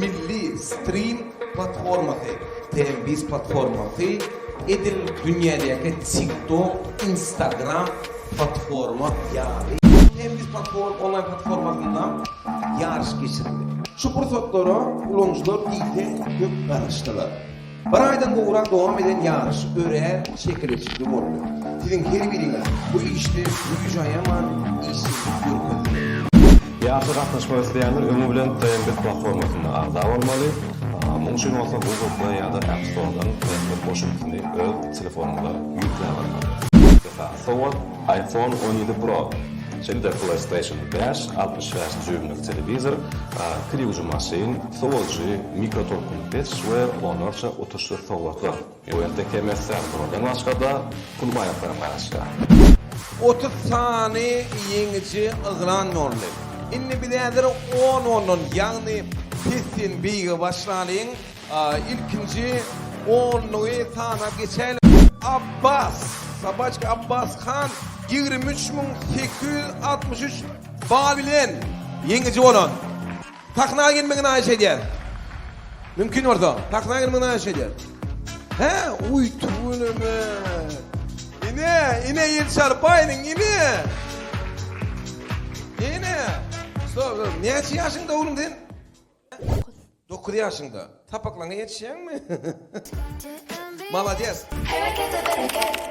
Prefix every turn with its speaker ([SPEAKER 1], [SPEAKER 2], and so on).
[SPEAKER 1] Milli strim platformasy, TMBiz platformasy edil dünýädäki TikTok, Instagram platforma ýaly. TMBiz platform onlaýn platformasynda ýaryş geçirildi. Şu pursatlara ulanyjylar diýseň köp garaşdylar. Bir aýdan gowrak dowam eden ýaryş örän çekeleşikli boldy. Siziň her biriňiz bu işde güýjüaýaman işjeňlik görkezdiňiz. Ýaryşa gatnaşmak isleýänler öňi bilen TMBit platformasyna agza bolmaly. Muň üçin bolsa Google Play ýa-da App Store-dan TMBit goşundysyny öz telefonyňyza ýükläp almaly. Esasy sowat. iPhone on ýedi Pro, şeýle-de PlayStation bäş, altmyş bäş dýuýmlyk telewizor, kriwji maşyn, sowujy, mikrotolkunly peç we onlarça utuşlyk sowgatlar. Ýuwente Kemester Pro-dan başga-da, pul baýaklaram gaýraşýar. Otuz sany ýeňiji yglan boldy. Indi biz häzir on ondan, ýagny pesden beýige başlalyň. Ilkinji onlugy sanap geçäýliň. Abbas, Sabaçki Abbas han ýigrimi üç müň sekiz ýüz altmyş üç bal bilen ýeňiji bolan. Sahna gelmegini haýyş edýäs. Mümkin bolsa, sahna gelmegini haýyş edýäs. Hä, uý, tüweleme. Ine, ine Elçar baýynyň ini. Ine. Soň, näçe ýaşyňda oglum sen? Dokuz. Dokuz ýaşyňda. Sapaklaňa ýetişýäňmi? Malades. Herekete bereket.